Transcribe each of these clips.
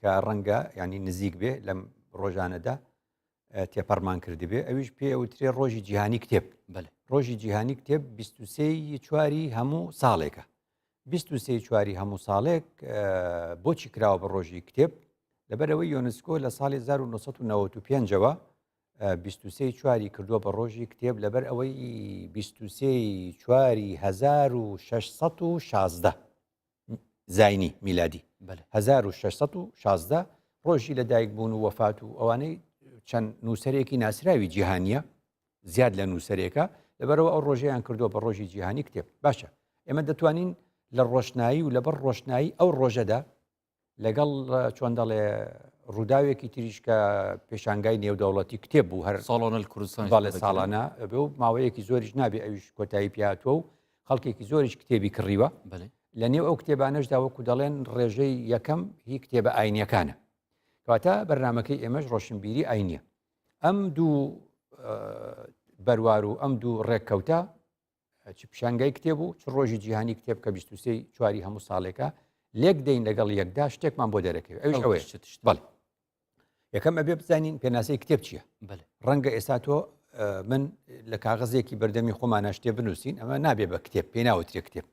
کە ڕەنگە ینی نزیک بێ لەم ڕۆژانەدا تێپەڕمان کردبێ ئەویش پێ ئەوترێ ڕۆژی جیهانی کتێب بەێ ڕۆژی جیهانی کتێب 23 چواری هەموو ساڵێکە 23 چواری هەموو ساڵێک بۆچی کراوە بە ڕۆژی کتێب لەبەرەوەی یۆنسکۆ لە ساڵی 1995ەوە 23 چواری کردووە بە ڕۆژی کتێب لەبەر ئەوەی 23 چواری 1616 زینی میلادی 1616 ڕۆژی لە دایک بوون و وەفات و ئەوانەی چەند نووسەرێکی ناسراوی جیهانیە زیاد لە نووسەرێکە لەبەرەوە ئەو ڕۆژیان کردووە بە ڕۆژی جیهانی کتێب باشە ئێمە دەتوانین لە ڕۆشنایی و لەبەر ڕۆشنایی ئەو ڕۆژەدا لەگەڵ چۆن دەڵێ ڕووداوێکی تریش کە پێشانگای نێودەوڵەتی کتێب بوو هەر ساڵۆنە کوردستان باڵێ ساڵانە بێ و ماوەیەکی زۆریش نابێ ئەویش کۆتایی پیاتوە و خەڵکێکی زۆریش کتێبی کڕیوە لە نێو ئەو کتێبانەشدا وەکو دەڵێن ڕێژەی یەکەم هی کتێبە ئاینیەکانە کەواتە بەرنمەکەی ئێمەش ڕۆشنبیری ئاینە ئەم دوو بەروار و ئەم دوو ڕێککەوتە چ پیشانگای کتێب و چ ڕۆژی جیهانی کتێب کە 23 چواری هەموو ساڵێکە لێک دەین لەگەڵ یەکدا شتێکمان بۆ دەرەکەوێت ئەوش ئەوەیە بڵێ یەکەم ئەبێ بزانین پێناسەی کتێب چییە ڕەنگە ئێستا تۆ من لە کاغزێکی بەردەمی خۆمانە شتێ بنووسین ئەمە نابێ بە کتێب پێ ناوترێ کتێب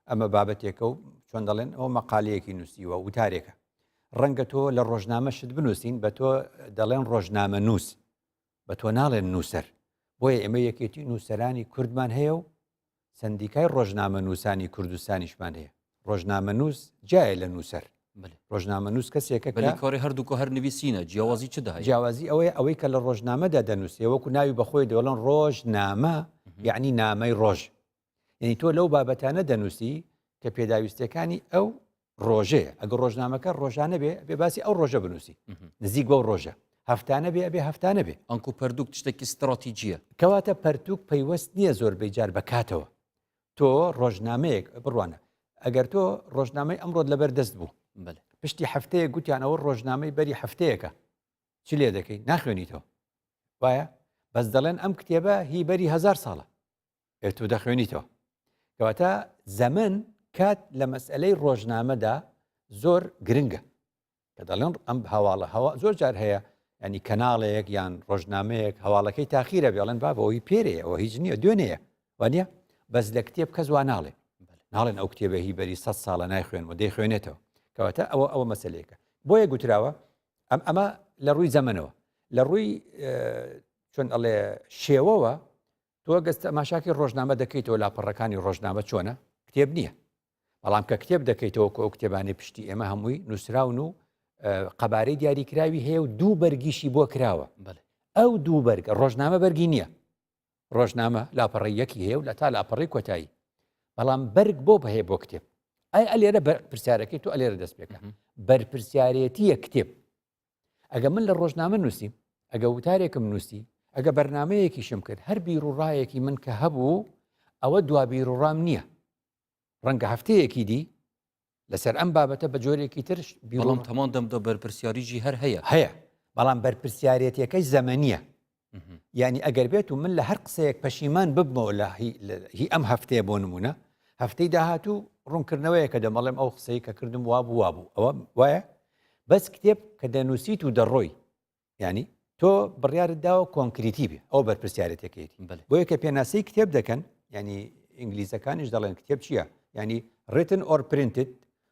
ئەمە بابەتێکە و چۆن دەڵێن ئەو مەقالەیەکی نووسیوە وتارێکە ڕەنگە تۆ لە ڕۆژنامەشت بنووسین بە تۆ دەڵێن ڕۆژنامە نووس بە تۆ ناڵێن نووسەر، بۆیە ئێمە یەکێتی نووسەرانی کوردمان هەیە و سەندیکای ڕۆژنامەنووسانی کوردستانیشمان هەیە. ڕۆژنامەنووس جیایە لە نووسەر. ڕۆژنامەنووس کەسێکە کە. بەلی کۆری هەردوو کۆ هەر نویسینە، جیاوازی چ دەهەیە؟ جیاوازی ئەوەیە ئەوەی کە لە ڕۆژنامەدا دەنووسێ وەکو ناوی بەخۆی دەڵێن ڕۆژنامە یانی نامەی ڕۆژ. یعنی تۆ لەو بابەتانە دەنووسی کە پێداویستەکانی ئەو ڕۆژەیە ئەگە ڕۆژنامەکە ڕۆژانە بێ بێ باسی ئەو ڕۆژە بنووسی نزیک بۆ ڕۆژە هەفتانە بێ بێ هەفتانە بێ ئەنکو پردوک شتێکی ستراتیجیە کەواتە پەرتوک پەیوەست نییە زۆربەی جار بەکاتەوە تۆ ڕۆژنامەیەک بڕوانە ئەگەر تۆ ڕۆژنامەی ئەمڕۆت لەبەر دەست بوو پشتی هەفتەیە گوتیانەوە ڕۆژنامەی بەری هەفتەیەەکە چ لێ دەکەی ناخوێنیتەوە وایە بەس دەڵێن ئەم کتێبە هی بەری هزار ساڵە ئێ تۆ دەخوێنیتەوە کەواتە زەمن کات لە مەسئلەی ڕۆژنامەدا زۆر گرنگە کە دەڵێن ئەم هەواڵە هەوا زۆر جار هەیە ینی کەناڵەیەک یان ڕۆژنامەیەک هەواڵەکەی تاخیرە بێڵێن بابەوەی پێرەیەوە هیچ نییە دوێنەیە وانە بەس لە کتێب کەس وا ناڵێ ناڵێن ئەو کتێبە هی بەری سە ساڵە نایخوێن و دەی خوێنێتەوە کەواتە ئەوە ئەوە مەسلەیەەکە بۆیە گوتراوە ئەم ئەمە لە ڕووی زەمنەوە لە ڕووی چۆن ئەڵێ شێوەوە تۆ گەز تەماشاکی ڕۆژنامە دەکەیتەوە لاپەڕەکانی ڕۆژنامە چۆنە کتێب نییە بەڵام کە کتێب دەکەیتەوە کە ئەو کتێبانی پشتی ئێمە هەمووی نووسراون و قەبارەی دیاریکراوی هەیە و دوو بەرگیشی بۆ کراوە ئەو دوو بەرگە ڕۆژنامە بەرگی نییە ڕۆژنامە لاپەڕی یەکی هەیە و لە تا لاپەڕی کۆتایی بەڵام بەرگ بۆ بەهەیە بۆ کتێب ئەی ئەلێرە پرسیارەکەی تو ئەلێرە دەست پێکە بەرپرسیارەتیە کتێب ئەگە من لە ڕۆژنامە نووسیم ئەگە وتارێکم نووسی ئەگە بەرنمەیەکیشم کرد هەر بیر و ڕایەکی من کە هەبوو ئەوە دوا بیر و ڕام نییە ڕەنگە هەفتەیەکی دی لەسەر ئەم بابەتە بە جۆرێکی ترش بیڵم تەمان دەم دە بەرپرسیاریی هەر هەیە هەیە بەڵام بەرپرسیارەتەکەی زەمەنیە یعنی ئەگەر بێت و من لە هەر قسەیەک پەشیمان ببمەوە لە هی ئەم هەفتەیە بۆ نمونە هەفتەی داهاتوو ڕوونکردنەوەیە کە دەمەڵێم ئەو قسەی کە کردم وا بوو وا بوو ئەوە وایە بەس کتێب کە دەنووسیت و دەڕۆی ینی تۆ بڕیارت داوە کۆنکریتی بێ ئەو بەرپسیارەتەکەیتی بۆ یەکە پێناسی کتێب دەکەن ینی ئینگلیزەکانیش دەڵێن کتێب چییە ینی ڕێتن ئۆر پرینتت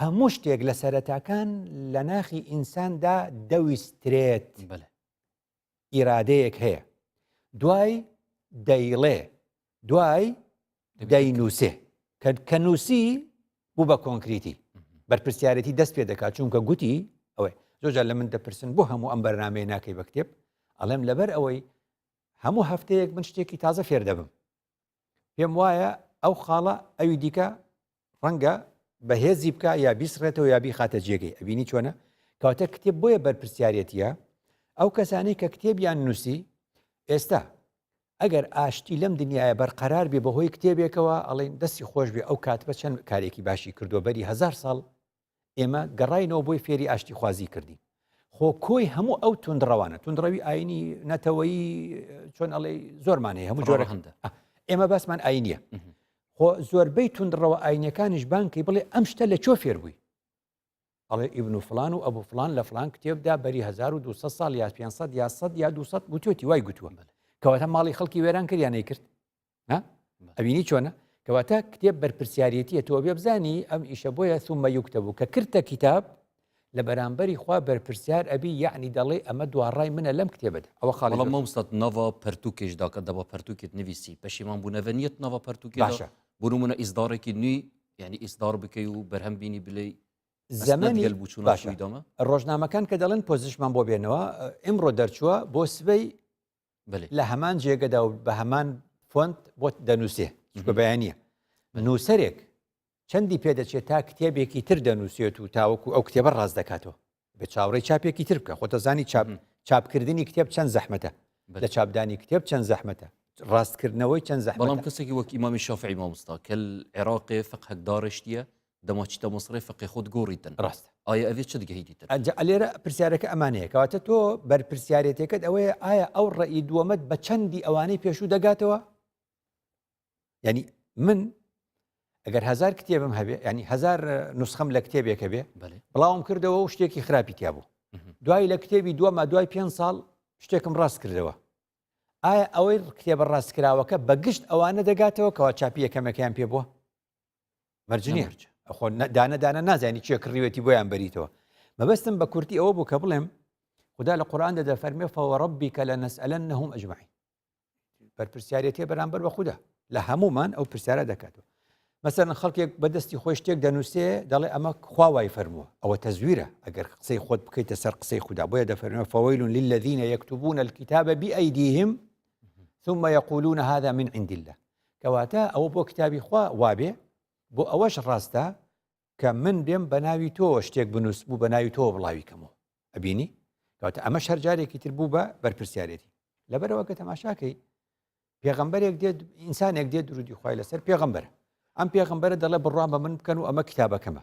هەموو شتێک لە سەرەتاکان لە ناخی ئینساندا دەویسترێت بلێ ئیرادەیەک هەیە دوای دەیڵێ دوای دەینووسێ کە کە نووسی بوو بە کۆنکریتی بەرپسیارەتی دەست پێ دەکات چونکە گوتی ئەوەی زۆجار لە من دەپرسن بۆ هەموو ئەم بەرنمەیە ناکەی بە کتێب ئەڵێم لەبەر ئەوەی هەموو هەفتەیەک من شتێکی تازە فێر دەبم پێم وایە ئەو خاڵە ئەوی دیکە ڕەنگە بەهێزی بکە یا بیسڕێتەوە یا بیخاتە جێگەی ئەبینی چۆنە کەواتە کتێب بۆیە بەرپسیارەتە ئەو کەسانی کە کتێبیان نووسی ئێستا ئەگەر ئاشتی لەم دنیاە بەرقەرار بێ بەهۆی کتێبێکەوە ئەڵین دەستی خۆش بێ ئەو کات بە چەند کارێکی باشی کردو بەری هزار ساڵ ئێمە گەڕینەوە بۆی فێری ئاشتی خوازی کردین خۆ کۆی هەموو ئەو تونندڕەوانە تونندڕەوی ئاینی نەتەوەی چۆن ئەڵێ زۆرمانێ هەموو جۆرە هەندە ئێمە باسمان ئاینە خۆ زۆربەی تونندڕەوە ئاینەکانیش بانکی بڵێ ئەم شتە لە چۆ فێر بووی ئەڵێ ئیبن و فلان و ئەبوو فلان لە فلان کتێبدا بەری 1200 سال یا 500 یا 100 یا 200 گوتوتی وای گوتووە بەە کەواتە ماڵی خەڵکی وێران کردیانەی کرد ئەوینی چۆنە کەواتە کتێب بەرپسیارەتیە تۆ بێ بزانی ئەم ئیشە بۆیە سومە یوکتە بوو کە کردتە کتاب لە بەرامبەری خوا بەرپرسیار ئەبی یعنی دەڵێ ئەمە دواڕای منە لەم کتێبدا ئەوە خاڵی مەمسەد نەوە پەرتوکێش داکە دەبە پەرتوکێت نویسی پەشیمان بوو نەڤەنیت نەوە پەرتوکی باشە بوو منە ئیزدارێکی نوی یعنی ئیسدار بکەی و بەرهەم بینی بلی زەمەنی بچون باشیدامە ڕۆژنامەکان کە دەڵێن پۆزیشمان بۆ بێنەوە ئمڕۆ دەرچووە بۆ سبەی لە هەمان جێگەدا و بە هەمان فۆنت بۆ دەنووسێ چکە بەیانە نووسەرێک چەندی پێدەچێت تا کتێبێکی تر دەنووسێت و تاوەکو ئەو کتێبە ڕاز دەکاتەوە بە چاوڕێ چاپێکی تر بکە خۆتەزانی چاپ چاپکردنی کتێب چەند زەحمەتە لە چاپدانی کتێب چەند زەحمەتە ڕاستکردنەوەی چەند زەحمەڵام کەسێکی وەکی مامی شافعی مامۆستا کە عێراقێ فقهدارشتە دەما چیتە مصرێ فقێ خۆت گۆڕیتن ڕاستە ئایا ئەێ چ دگەیدیتن ئەجا ئەلێرە پرسیارەکە ئەمانەیە کەواتە تۆ بەرپرسیارەتەکەت ئەوەیە ئایا ئەو ڕێی دووەمەت بە چەندی ئەوانەی پێشوو دەگاتەوە ینی من ئەگەر هزار کتێبم هەبێ ینی هزار نسخەم لە کتێبێکە بێ بڵاوم کردەوە و شتێکی خراپی تیا بوو دوای لە کتێبی دووەمە دوای پێ ساڵ شتێکم ڕاست کردەوە ئایا ئەوەی کتێبە ڕاستکراوەکە بە گشت ئەوانە دەگاتەوە کەوا چاپی یەکەمەکەیان پێ بووە مەرج نیە خۆ دانەدانە نازانی چیە کڕیوێتی بۆیان بەریتەوە مەبەستم بە کورتی ئەوە بوو کە بڵێم خدا لە قورآان دەدە فەرمێ فەوەڕبی کە لە نەسئلەن نەهم ئەجمعین بەرپسیارەتێ بەرامبەر بە خوددا لە هەمومان ئەو پرسیارە دەکاتەوە مەسەن خەڵکێک بەدەستی خۆی شتێک دەنووسێ دەڵێ ئەمە خواوای فەرمووە ئەوە تەزویرە ئەگەر قسەی خۆت بکەیتە سەر قسەی خوددا بۆیە دەفەرمە فەوەیلون للذینە یەکتبوون الكتابە بئیدیهم ثم يقولون هذا من عند الله کەواتە ئەوە بۆ کتابی خوا وابێ، بۆ ئەوەش ڕاستە کە من بێم بە ناوی تۆوە شتێک بنووسم و بە ناوی تۆوە بڵاوی کەمەوە. ئەبینی؟ کەواتە ئەمەش هەر جارێکی تر بوو بە بەرپرسیارێتی. لەبەرەوە کە تەماشاکەی پێغەمبەرێک دێت ئینسانێک دێت درودی خی لەسەر پێغەمبەر ئەم پێغمبەرە دەڵێ بڕوان بە من بکەن و ئەمە کتابەکەمە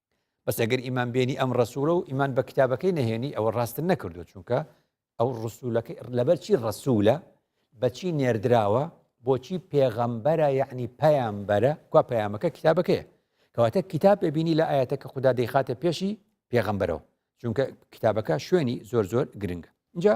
بەس ئەگەر ئیمان بێنی ئەم ڕسوولە و ئیمان بە کتابەکەی نەهێنی ئەوە ڕاستن نەکردو چونکە ئەو ڕسوولەکەی لەبەرچی ڕسوولە بەچی نێردراوە بۆچی پێغەمبەرە یعنی پەیامبەرە کوا پەیامەکە کتابەکەیە کەواتە کتاب ببینی لە ئاەتە کە خوددا دەیخاتە پێشی پێغەمبەرەوە چونکە کتابەکە شوێنی زۆر زۆر گرنگە اینجا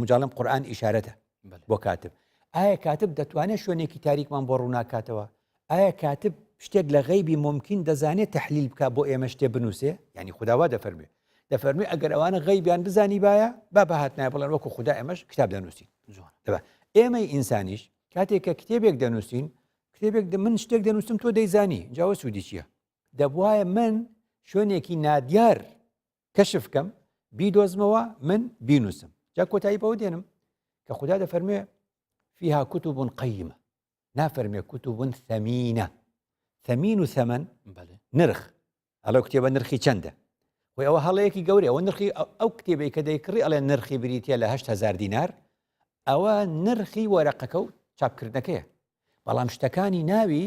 مجاڵم قورآن ئیشارەتە بۆ کاتب ئایا کاتب دەتوانێت شوێنێکی تاریکمان بۆ ڕووناکاتەوە ئایا کاتب شتێک لە غەیبی ممکن دەزانێت تحلیل بک بۆ ئێمە شتێ بنووسێ ینی خداوا دەفەرمێ دەفەرمی ئەگەر ئەوانە غەیبیان بزانی باە با بەهاتنای بڵێن وەکو خدا ئێمەش کتاب دەنووسین ئێمەی ئینسانیش کاتێک کە کتێبێک دەنووسین کتێبێک من شتێک دەنووسم تۆ دەیزانی جاوە سوودی چییە دەبواە من شوێنێکی نادیار کەشف کەم بیدۆزمەوە من بینوسم جا کۆتایی بەوە دێنم کە خوددا دەفەرموێ فیها کوتو بوون قەیمە نافەرمێ کوتو بوون ثەمینە ثەمین و ثەمەن نرخ ئەڵە کتێبە نرخی چەندە خۆی ئەوە هەڵەیەکی گەورە ئەوە نرخی ئەو کتێبی کە دەیکڕی ئەڵێ نرخی بریتە لە هزار دینار ئەوە نرخی وەرەقەکە و چاپکردنەکەیە بەڵام شتەکانی ناوی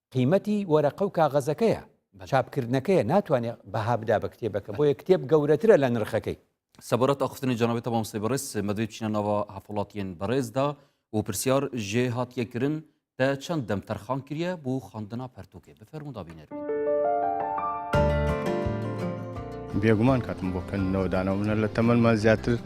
قیمەتی وەرەقە و کاغەزەکەیە چاپکردنەکەیە ناتوانێ بەها بدا بە کتێبەکە بۆیە کتێب گەورەترە لە نرخەکەی. سەبارەت ئاخفتنی جەنابت مامۆستای بەڕێز مەدوێ بچینە ناوە هەڤاڵاتیێن بەڕێزدا و پرسیار ژێ هاتیە کرن تە چەند دەم تەرخان کریە بو خواندنا پەرتوکێ بفەرموو دا بینەر بین. بێگومان کاتم بۆ خوێندنەوە داناوە منە لە تەمەنمان زیاتر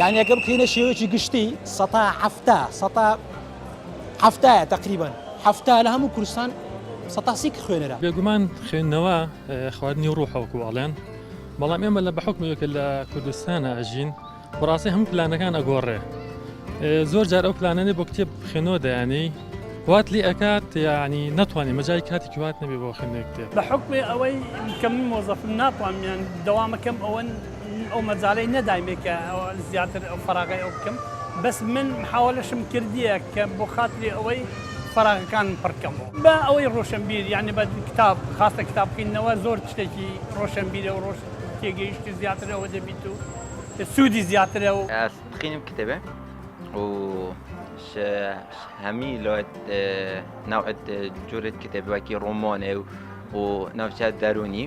یانی ئەگەر بکەینە شێوەیەکی گشتی سەتا حەفتا سەتا حەفتایە تقریبن حەفتا لە هەموو کوردستان سەتاسی کە خوێنەرە بێگومان خوێندنەوە خواردنی ڕوحەوەکو ئەڵێن بەڵام ئێمە لە بەحکمێکە لە کوردستانە ئەژین بەڕاستی هەموو پلانەکان ئەگۆڕێ زۆر جار ئەو پلانەنێ بۆ کتێب خوێنەوە دەیانی وات لێ ئەکات یعنی ناتوانانی مەجای کاتی کوات نەبێ بۆ خوێنێک کتێب بە حکمێ ئەوەی کەم مۆزەفم ناتوانمیان دەوامەکەم ئەوەن ئەو مەجالەی نەدایمێ کە زیاتر ئەو فەراغەی ئەو بکەم بەس من محاوەلەشم کردیە کە بۆ خاتری ئەوەی فەراغەکانم پڕ کەم بە ئەوەی ڕۆشەنبیر یانی بە کتاب خاستە کتاب خویندنەوە زۆر شتێکی ڕۆشەنبیرە و ڕۆژ تێگەیشت زیاتر ئەوە دەبیت و سوودی زیاترە و تخینم کتێبێ و هەمی لۆت ناوت جورت کتێبەکی ڕۆمۆنێ و و ناوچە دەرونی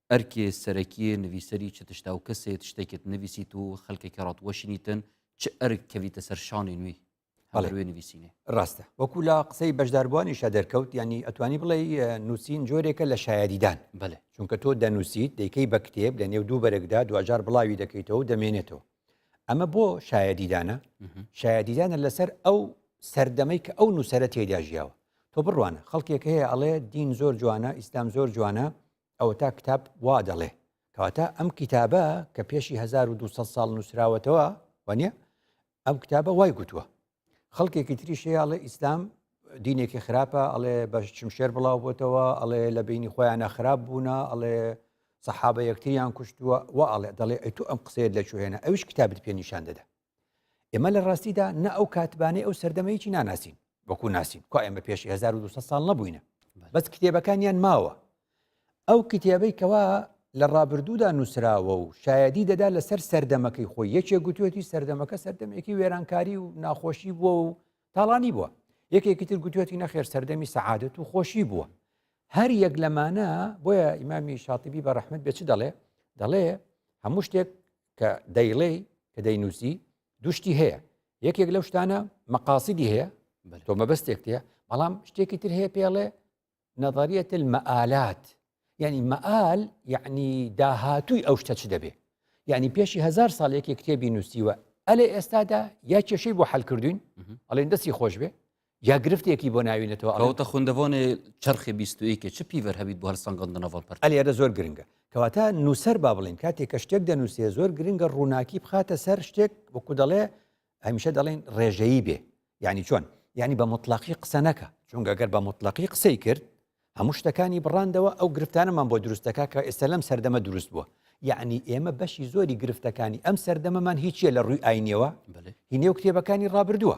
ئەرکێ سەرەکیێ نڤیسەری چ تشتا و کەسێ تشتێکت نڤیسیت و خەلکێ کە ڕات وەشینیتن چ ئەرک کەڤیتە سەر شانێ نوی هەڵەروێ نویسینێ ڕاستە وەکو لە قسەی بەشداربووانیشە دەرکەوت ینی ئەتوانی بڵێ نووسین جۆرێکە لە شایدیدان بەێ چونکە تۆ دەنووسیت دەیکەی بە کتێب لە نێو دوو بەرەکدا دوجار بڵاوی دەکەیتەوە دەمێنێتەوە ئەمە بۆ شایدیدانە شایدیدانە لەسەر ئەو سەردەمەی کە ئەو نووسرە تێدا ژیاوە تۆ بڕوانە خەڵکێک هەیە ئەڵێ دین زۆر جوانە ئیسلام زۆر جوانە ئەوەتا کتاب وا دەڵێ کەواتە ئەم کتابە کە پێشی 1200 ساڵ نووسراوەتەوە وانە ئەم کتابە وای گوتووە خەڵکێکی تریشەیەڵێ ئیسلام دینێکی خراپە ئەڵێ بە چمشێر بڵاو بۆتەوە ئەڵێ لە بینی خۆیانە خراپ بوونە ئەڵێ سەحابە یەکتریان کوشتووە و ئەڵێ دەڵێ ئەی تو ئەم قسەیە لە چوهێنە ئەوش کتابت پێ نیشان دەدا ئێمە لە ڕاستیدا نە ئەو کاتبانەی ئەو سەردەمەیەکی ناناسین وەکو ناسین کو ئێمە پێش 1200 ساڵ نەبووینە بەس کتێبەکانیان ماوە ئەو کتێبەی کەوا لە ڕابردوودا نووسراوە و شایدی دەدا لەسەر سەردەمەکەی خۆی یەکێ گوتوێتی سەردەمەکە سەردەمێکی وێرانکاری و ناخۆشی بووە و تاڵانی بووە یەکێکی تر گوتوێتی نەخێر سەردەمی سەعادت و خۆشی بووە هەر یەک لەمانە بۆیە ئیمامی شاتیبی بە ڕحمد بێ چ دەڵێ دەڵێ هەموو شتێک کە دەیڵێی کە دەینوسی دوشتی هەیە یەکێک لەو شتانە مەقاسیدی هەیە تۆ مەبەستێک تێ بەڵام شتێکی تر هەیە پێڵێ نظریەت المەالات یعنی مەال یعنی داهاتووی ئەو شتە چ دەبێ یعنی پێشی هزار ساڵێکی کتێبی نووسیوە ئەلێ ئێستادا یا کێشەی بۆ حلکردوین ئەڵێن دەستی خۆش بێ یا گرفتێکی بۆ ناوینەتەوە ئەوتە خوندەوانێ چرخی بیستویکە چ پیڤەر هەبیت بۆ هەرسەنگەندنەوەڵ پەر ئەلێرە زۆر گرنگە کەواتە نووسەر با بڵین کاتێک کە شتێک دەنووسێ زۆر گرنگە ڕووناکی بخاتە سەر شتێک وەکو دەڵێ هەمیشە دەڵێن ڕێژەیی بێ ینی چۆن ینی بە مطلقی قسە نەکە چونگە گەر بە مطلقی قسەی کرد هەموو شتەکانی بڕاندەوە ئەو گرفتانەمان بۆ دروستەکە کە ئێستا لەم سەردەمە دروست بووە یعنی ئێمە بەشی زۆری گرفتەکانی ئەم سەردەمەمان هیچیە لە ڕووی ئاینەوە هینێو کتێبەکانی ڕابردووە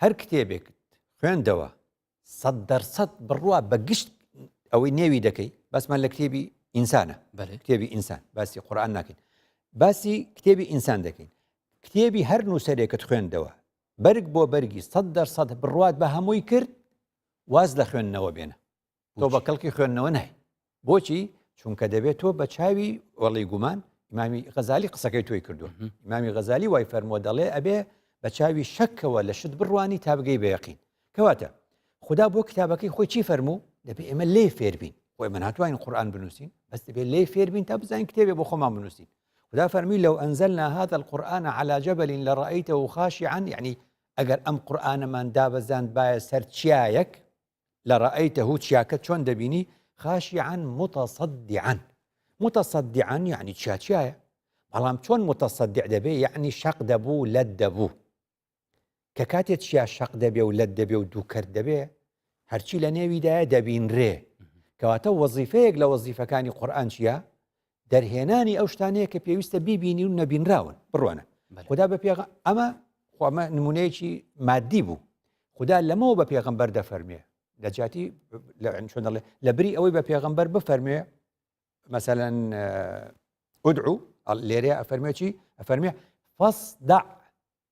هەر کتێبێکت خوێندەوە سەد دەرسەد بڕوا بە گشت ئەوەی نێوی دەکەی بەسمان لە کتێبی ئینسانە کتێبی ئینسان باسی قورآان ناکەین باسی کتێبی ئینسان دەکەین کتێبی هەر نووسەرێکت خوێندەوە بەرگ بۆ بەرگی سەد دەرسەد بڕوات بە هەمووی کرد واز لە خوێندنەوە بێنە تۆ بە کەڵکی خوێندنەوە نای بۆچی چونکە دەبێت تۆ بە چاوی وەڵی گومان ئیمامی غەزای قسەکەی تۆی کردو ئیمامی غەزای وای فەرمۆ دەڵێ ئەبێ بە چاوی شەکەوە لە شت بڕوانی تا بگەی بەیەقین کەواتە خدا بۆ کتابەکەی خۆی چی فەرموو دەبێ ئێمە لێ فێربین خۆی من ناتوانین قورآان بنووسین بەس دەبێ لێ فێربین تا بزانین کتێبێ بۆ خۆمان بنووسین خدا فەرمی لەو ئەنزەلنا هذا القورآن على جبل لرأيته خاشعا يعني ئەگەر ئەم قورآانەمان دابەزاند باە سەر چیایەک لرأیتە چیاکە چۆن دەبینی خاشعا متصدعا متصدعا یعنی چیا چیایە بەڵام چۆن متصدع دەبێ یعنی شەق دەبوو لەت دەبوو کە کاتێ چیا شەق دەبێ و لەت دەبێ و دووکرد دەبێ هەرچی لە نێویدایە دەبینرێ کەواتە وەزیفەیەک لە وەزیفەکانی قورآن چییە دەرهێنانی ئەو شتانەیە کە پێویستە بیبینی و نەبینراون بڕوانە خدا بە پێغ ئەمە خۆمە نمونەیەکی مادی بوو خدا لەمەوە بە پێغمبەر دەفەرمێ لە جاتی چۆن دەڵێ لە بری ئەوەی بە پێغمبەر بفەرمێ مثلەن ئودعو لێرەیە ئەفەرمێکی ئەفەرمێ فەسدا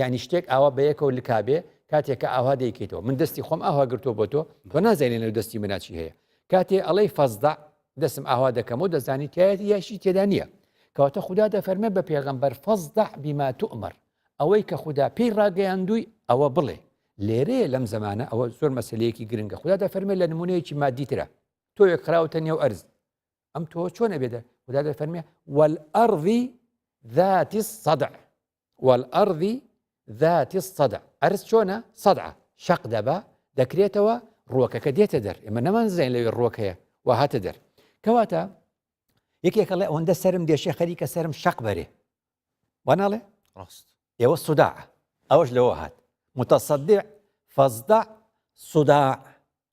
یعنی شتێک ئاوا بە یەکەوە لکابێ کاتێکە ئاوا دەیکەیتەوە من دەستی خۆم ئاوا گرتو بۆ تۆ تۆ نازانێ لە دەستی مناچی هەیە کاتێ ئەڵەی فەزدا دەسم ئاوا دەکەم و دەزانی تایەتی یاشی تێدا نییە کەواتە خوددا دەفەرمە بە پێغەمبەر فەزدا بیما تو ئەمەر ئەوەی کە خوددا پێی ڕاگەیاندووی ئەوە بڵێ لێرەیە لەم زمانە ئەوە زۆر مەسلەیەکی گرنگە خوددا دەفەرمێ لە نمونەیەکی مادیترە تۆ یەک خراوتە نێو ئەرز ئەم تۆ چۆنە بێدە خوددا دەفەرمێ وەل ئەڕوی ذاتی سەدع والارض ذات الصدع عەرز چۆنە صدعە شەق دەبا دەکرێتەوە ڕووەکەکە دێتە دەر ئێمە نەمانزین لەوێ ڕووەک هەیە و هاتە دەر کەواتە یەکێکە لە ئەوەندە سرم دێشێ خەریکە سرم شەق بەرێ واناڵێ ڕاست ئێوە سودا ئەوەش لەوە هات متەسەدع فەزدا سودا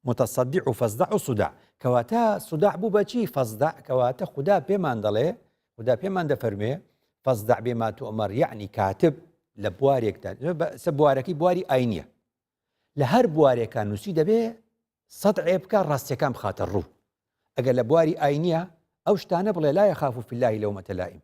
متصدع و فصدع و صداع کەواتە صداع بوو بە چی فصدع کەواتە خودا پێمان دەڵێ خودا پێمان دەفەرموێ فصدع بما تؤمر یعنی کاتب لە بوارێکدا سە بوارەکەی بواری ئاینیە لە هەر بوارێکە نووسی دەبێ سەد عێ بکە ڕاستیەکان بخاتە ڕوو ئەگەر لە بواری ئاینیە ئەو شتانە بڵێ لایە خاف و فلای لەو مەتەلائیم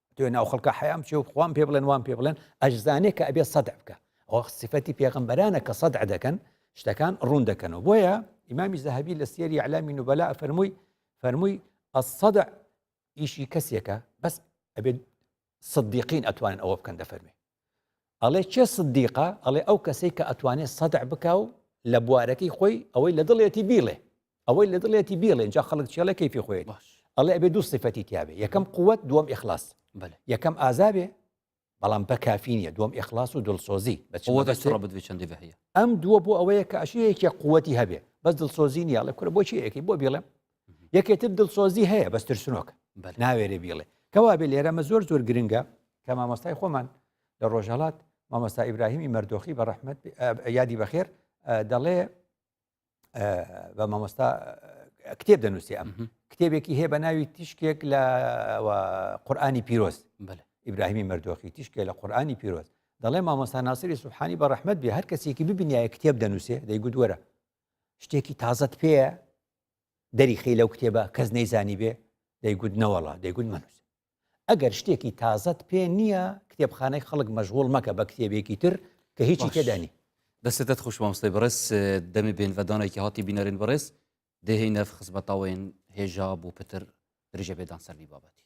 تۆ ناو خەڵکە حەیام چێ و خوام پێ بڵێن وام پێ بڵێن ئەشزانێک کە ئەبێ سەدع بکە ئەوە سفەتی پێغمبەرانە کە سەدع دەکەن شتەکان ڕوون دەکەنەوە بۆیە ئیمامی زەهبی لە سێری علامی نوبەلا فەرمووی فەرمووی ئەسەدع ئیشی کەسێکە بەس ئەبێت صدیقین ئەتوانن ئەوە بکەن دەفەرمێ ئەڵێ کێ سدیقە ئەڵێ ئەو کەسەی کە ئەتوانێت سەدع بکا و لە بوارەکەی خۆی ئەوەی لە دڵێتی بیڵێ ئەوەی لە دڵێتی بیڵێ جا خەڵک چێڵە کەیفی خۆێت ئەڵێ ئەبێ دوو سفەتی تیاێ یەکەم قوت دووەم ئخلاص یەکەم ئازابێ بەڵام بە کافی نیە دوم ئخلاص و دڵسۆزی بەچندی هەیە ئەم دووە بۆ ئەوەیە کە عشەیەکی قوتی هەبێ بەس دڵسۆزی نیاڵێ کورە بۆچی ئەەکەی بۆ بڵێم یەکێتر دڵسۆزی هەیە بەس ترسنۆکە ناوێرێ بیڵێ کەوا بێ لێرەمە زۆر زۆر گرنگە کە مامۆستای خۆمان لە ڕۆژهڵات مامۆستا ئیبراهیمی مردۆخی بە ڕحمت یادی بەخێر دەڵێ بە مامۆستا کتێب دەنووسی ئەم کتێبێکی هەیە بە ناوی تیشکێک لە قورآانی پیرۆز ئیبراهیمی مردۆخی تیشکێ لە قورآانی پیرۆز دەڵێ مامۆستا ناسری سوحانی بە ڕحمت بێ هەر کەسێکی ببنیایە کتێب دەنووسێ دەیگوت وەرە شتێکی تازت پێە دەریخی لەو کتێبە کەس نەیزانی بێ دەیگوت نەوەڵا دەیگوت مەنووس ئەگەر شتێکی تازەت پێ نییە کتێبخانەی خەڵک مەژغول مەکە بە کتێبێکی تر کە هیچی تێدانی دەستێتت خوش مامۆستای بەڕێز دەمێ بێن بە دانێکی هاتی بینەرین بەڕێز دێهی نەف خزمەتاوەین هێژا بۆ پتر درژە بێدان سەرنی بابەتی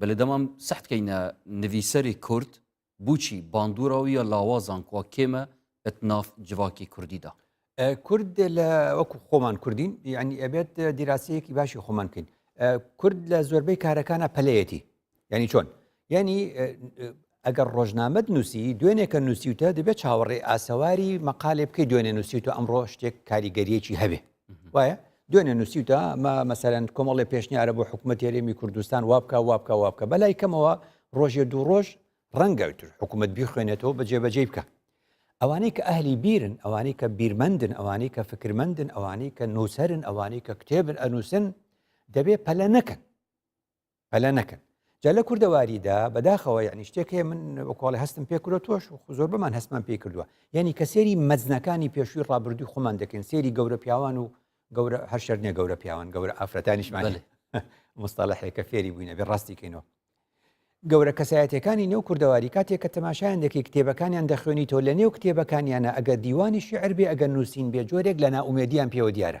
بەلێ دەمام سەحت کەینە نڤیسەرێ کورد بوچی باندوراویە لاوازان کوا کێمە ئەت ناف جڤاکێ کوردی دا. کورد لە وەکو خۆمان کوردین یعنی ئەبێت دیراسەیەکی باشی خۆمان بکەین کورد لە زۆربەی کارەکانە پەلەیەتی یعنی چۆن یعنی ئەگەر ڕۆژنامەت نوسی دوێنێ کە نوسیوتە دەبێت چاوەڕێی ئاسەواری مەقالێ بکەی دوێنێ نوسیوتە ئەمڕۆ شتێک کاریگەریەکی هەبێ وایە دوێنێ نوسیوتە ئەمە مەسەرەن کۆمەڵی پێشنیارە بۆ حکوومەت هێرێمی کوردستان وابکە وابکە وابکە بەلای کەمەوە ڕۆژێ دوو ڕۆژ ڕەنگەوتر حکوومەت بیخوێنێتەوە بە جێبەجێ بکە ئەوانەی کە ئەهلی بیرن ئەوانەی کە بیرمەندن ئەوانەی کە فکرمەندن ئەوانەی کە نووسرن ئەوانەی کە کتێبن ئەنووسن دەبێ پەلە نەکەن پەلە نەکەن جا لە کوردەواریدا بەداخەوە یعنی شتێک هەیە من وەکۆڵی هەستم پێ کرۆ تۆش زۆر بەمان هەستمان پێ کردووە یعنی کە سێری مەزنەکانی پێشووی ڕابردووی خۆمان دەکەین سێری گەورە پیاوان و گەورە هەشەر نیە گەورە پیاوان گەورە ئافرەتانیشمان مستەڵحێکە فێری بووینە بێ ڕاستی کەینەوە گەورە کەسایەتەکانی نێو کوردەواری کاتێک کە تەماشایان دەکەی کتێبەکانیان دەخوێنی تۆ لە نێو کتێبەکانیانە ئەگە دیوانی شعر بێ ئەگە نووسین بێ جۆرێک لە ناومێدیان پێوە دیارە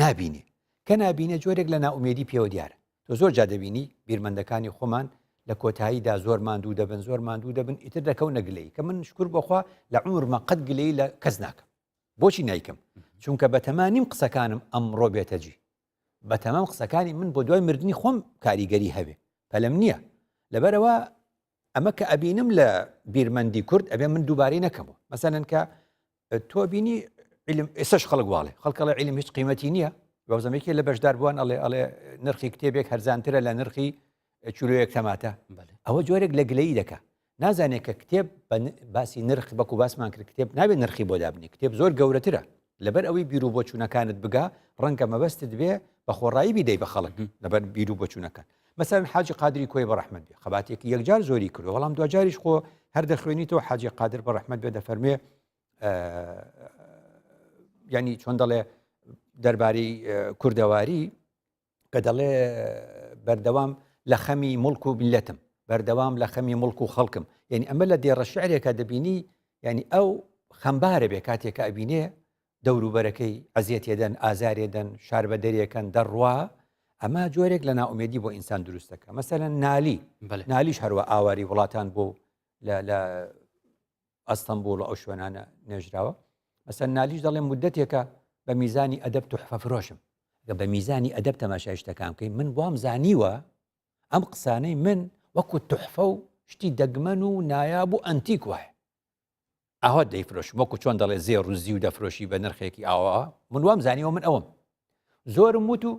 نابینێ کە نابینێ جۆرێک لە نائومێدی پێوە دیارە تۆ زۆر جا دەبینی بیرمەندەکانی خۆمان لە کۆتاییدا زۆر ماندوو دەبن زۆر ماندوو دەبن ئیتر دەکەون نەگلەی کە من شکر بخوا لە عمرمە قەت گلەی لە کەس ناکەم بۆچی نیکەم چونکە بەتەما نیم قسەکانم ئەمڕۆ بێتەجی بە تەمام قسەکانی من بۆ دوای مردنی خۆم کاریگەری هەبێ پەلم نییە لەبەرەوە ئەمە کە ئەبینم لە بیرمەندی کورد ئەبێ من دووبارەی نەکەمەوە مەسەن کە تۆ بینی علم ئێسش خەڵک واڵێ خەڵکەڵە علم هیچ قیمەتی نییە بەزمێکی لە بەشدار بووان ئەڵێ ئەڵێ نرخی کتێبێک هەرزانترە لە نرخی چلوەیەک تەماتە ئەوە جۆرێک لە گلەی دەکە نازانێت کە کتێب باسی نرخ بەکو باسمان کرد کتێب نابێت نرخی بۆ دابنی کتێب زۆر گەورەترە لەبەر ئەوەی بیرو بۆ چوونەکانت بگا ڕەنگە مەبەستت بێ بە خۆڕایی بیدەی بە خەڵک لەبەر بیرو بۆ چوونەکان مەسەرن حاجی قادری کۆی بە ڕحمد بێ خەباتێکی یەکجار زۆری کرد بەڵام دوجاریش خۆ هەر دەخوێنیتەوە حاجی قادر بە ڕحمد بێ دەفەرمێ ینی چۆن دەڵێ دەربارەی کوردەواری کە دەڵێ بەردەوام لە خەمی مڵک و بلەتم بەردەوام لە خەمی مڵک و خەڵکم یعنی ئەمە لە دێڕە شعرێکە دەبینی ینی ئەو خەمبارە بێ کاتێکە ئەبینێ دەوروبەرەکەی ئەزیەتێدەن ئازارێدەن شار بە دەرێکەن دەڕوا ئەمە جۆرێک لە ناومێدی بۆ ئینسان دروستەکە مەسەرەن نالی نالیش هەروە ئاواری وڵاتان بۆ لە ئەستەمبوڵ و ئەو شوێنانە نێژراوە مەسەر نالیش دەڵێ مدەتێکە بە میزانی ئەدەب توحفە فرۆشم گە بە میزانی ئەدەب تەماشای شتەکان بکەین من بۆم زانیوە ئەم قسانەی من وەکو توحفە و شتی دەگمەن و نایاب و ئەنتیک وایە ئاوا دەیفرۆش وەکو چۆن دەڵێ زێ ڕوزی و دەفرۆشی بە نرخێکی ئاوا من وام زانیەوە من ئەوم زۆرم وت و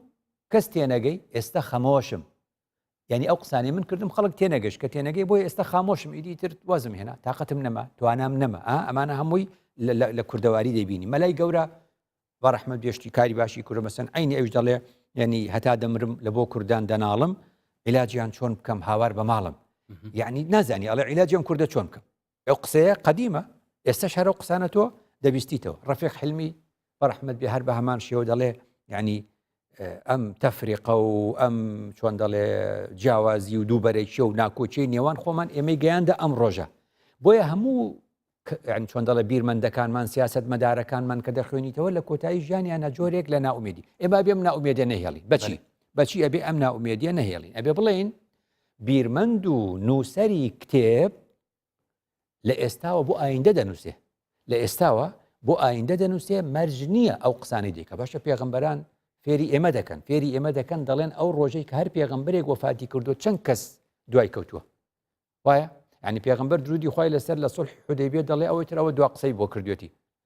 کەس تێنەگەی ئێستا خەمەوەشم یعنی ئەو قسانەی من کردم خەڵک تێنەگەشت کە تێنەگەی بۆی ئێستا خامۆشم ئیدی تر وازم هێنا تااقەتم نەما توانام نەما ئەمانە هەمووی لە کوردەواری دەبینی مەلای گەورە بە ڕحمە بێشتی کاری باشی کوورە مەسن عینی ئەوش دەڵێ یعنی هەتا دەمرم لە بۆ کوردان دەناڵم علاجیان چۆن بکەم هاوار بە ماڵم یعنی نازانی ئەڵێ علاجیان کووردە چۆن بکەم ئەو قسەیە قەدیمە ئێستا شارە و قسانە تۆ دەبیستیتەوە ڕفێق حلمی بەڕحمد بێ هەر بە هەمان شێوە دەڵێ ینی ئەم تەفریقە و ئەم چۆن دەڵێ جیاوازی و دووبەرەکی و ناکۆچی نێوان خۆمان ئێمەی گەیاندە ئەم ڕۆژە بۆیە هەموو چۆن دەڵە بیرمەندەکانمان سیاست مەدارەکانمان کە دەخوێنیتەوە لە کۆتایی ژیانیانە جۆرێک لە ناومێدی ئێمە بێم ناومێدە نەهێڵی بەچی بەچی ئەبێ ئەم ناومێدیە نەهێڵین ئەبێ بڵێین بیرمەند و نووسەری کتێب لە ئێستاوە بۆ ئایندە دەنووسێ لە ئێستاوە بۆ ئایندە دەنووسێ مەرج نییە ئەو قسانی دیکە باشە پێغمبەران فێری ئێمە دەکەن فێری ئێمە دەکەن دەڵێن ئەو ڕۆژەی کە هەر پێغمبرێک وەفاتی کردو چەند کەس دوای کەوتووە وایە ینی پێغمبەر درودی خی لەسەر لە سڵ حدەبێ دەڵێ ئەوەی ترەوە دو قسەی بۆ کردوێتی